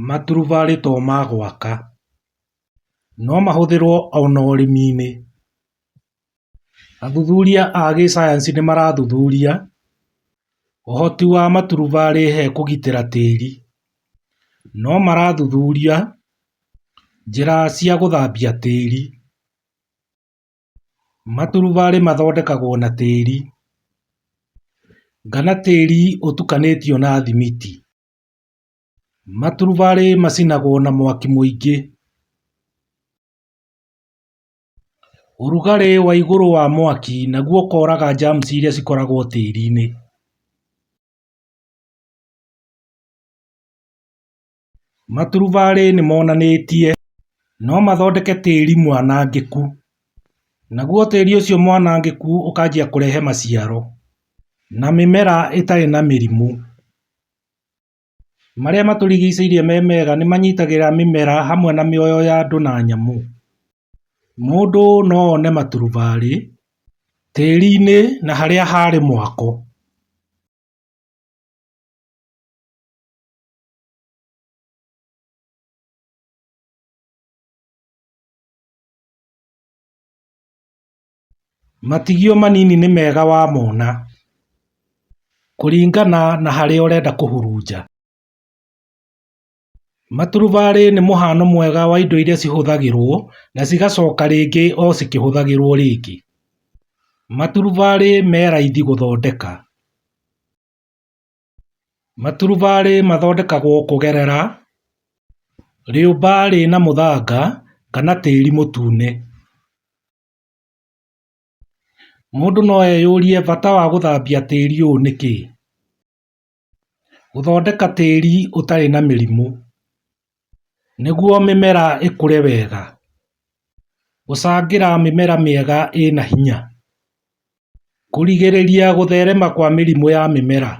Maturubarĩ to ma gwaka, no mahũthĩrwo ona ũrĩmi-inĩ. Athuthuria a gĩcayanci nĩ marathuthuria ũhoti wa maturubarĩ he kũgitĩra tĩri. No marathuthuria njĩra cia gũthambia tĩri. Maturubarĩ mathondekagwo na tĩri, kana tĩri ũtukanĩtio na thimiti. Maturubarĩ macinagwo na mwaki mũingĩ ũrugarĩ wa igũrũ wa mwaki naguo ũkoraga germs iria cikoragwo tĩri-inĩ. Maturubarĩ nĩ monanĩtie no mathondeke tĩri mwanangĩku naguo tĩri ũcio mwanangĩku ũkanjia kũrehe maciaro na mĩmera ĩtarĩ na mĩrimũ. marĩa matũrigicĩirie me mega nĩ manyitagĩrĩra mĩmera hamwe na mĩoyo ya andũ na nyamũ. Mũndũ no one maturubarĩ tĩri-inĩ na harĩa harĩ mwako. Matigio manini nĩ mega wamona kũringana na harĩa ũrenda kũhurunja. Maturubarĩ nĩ mũhano mwega wa indo iria cihũthagĩrwo na cigacoka rĩngĩ o cikĩhũthagĩrwo rĩngĩ. Maturubarĩ me raithi gũthondeka. Maturubarĩ mathondekagwo kũgerera rĩũmba rĩna mũthanga kana tĩri mũtune. Mũndũ no eyũrie bata wa gũthambia tĩri ũũ nĩ kĩ? Gũthondeka tĩri ũtarĩ na mĩrimũ nĩguo mĩmera ĩkũre wega, gũcangĩra mĩmera mĩega ĩna hinya, kũrigĩrĩria gũtherema kwa mĩrimũ ya mĩmera,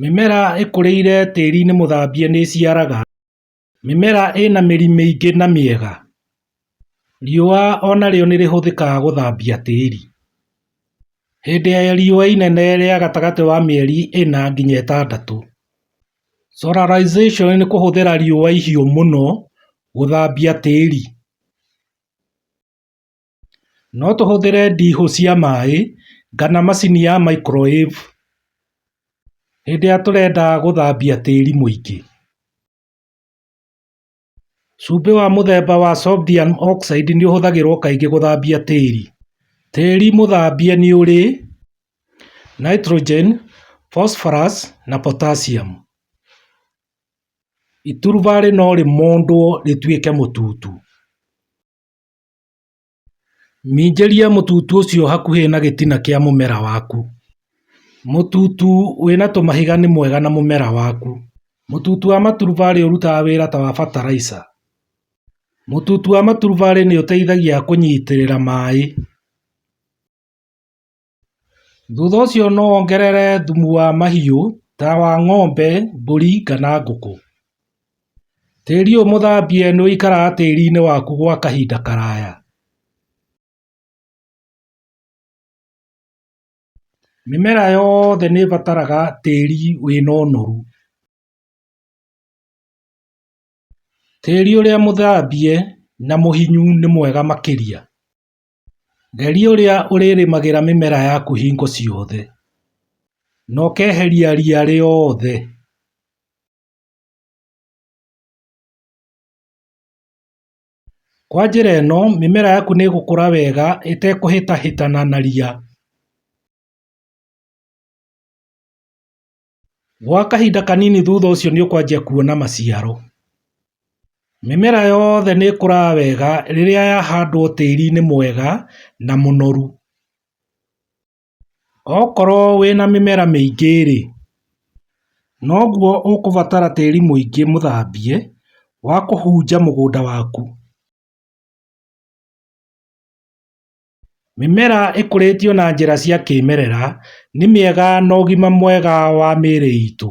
mĩmera ĩkũrĩire tĩri-inĩ mũthambie nĩĩciaraga Mĩmera ĩna mĩri mĩingĩ na mĩega, riũa onarĩo nĩrĩhũthĩkaga gũthambia tĩri. Hĩndĩ ya riũa inene rĩa gatagatĩ wa mĩeri ĩna nginya ĩtandatũ, solarization nĩ kũhũthĩra riũa ihiũ mũno gũthambia tĩri. No tũhũthĩre ndiihũ cia maĩ kana macini ya microwave hĩndĩ ĩrĩa tũrenda gũthambia tĩri mũingĩ. Cumbĩ wa mũthemba wa sodium oxide nĩ ũhũthagĩrwo kaingĩ gũthambia tĩri. Tĩri mũthambie nĩ ũrĩ nitrogen, phosphorous na potassium. Iturubarĩ no rĩmondwo rĩtuĩke mũtutu. Minjĩria mũtutu ũcio hakuhĩ na gĩtina kĩa mũmera waku. Mũtutu wĩna tũmahiga nĩ mwega na mũmera waku. Mũtutu wa maturubarĩ ũrutaga wĩra ta wa bataraica. Mũtutu wa maturubarĩ nĩũteithagia kũnyitĩrĩra maĩ. Thutha ũcio no wongerere thumu wa mahiũ ta wa ng'ombe, mbũri kana ngũkũ. Tĩri ũyũ mũthambie nĩ ũikaraga tĩri-inĩ waku gwa kahinda karaya. Mĩmera yothe nĩ ĩbataraga tĩri wĩna ũnoru. Tĩri ũrĩa mũthambie na mũhinyu nĩ mwega makĩria. Geria ũrĩa ũrĩrĩmagĩra mĩmera yaku hingo ciothe na ũkeheria ria rĩothe ,kwa njĩra ĩno mĩmera yaku nĩgũkũra wega ĩtekũhĩtahĩtana na ria Gwa kahinda kanini thutha ũcio nĩ ũkwanjia kuona maciaro. Mĩmera yothe nĩ ĩkũraga wega rĩrĩa yahandwo tĩri-inĩ mwega na mũnoru. Okorwo wĩna mĩmera mĩingĩ rĩ, noguo ũkũbatara tĩri mũingĩ mũthambie wa kũhunja mũgũnda waku. Mĩmera ĩkũrĩtio na njĩra cia kĩmerera nĩ mĩega na ũgima mwega wa mĩrĩ itũ.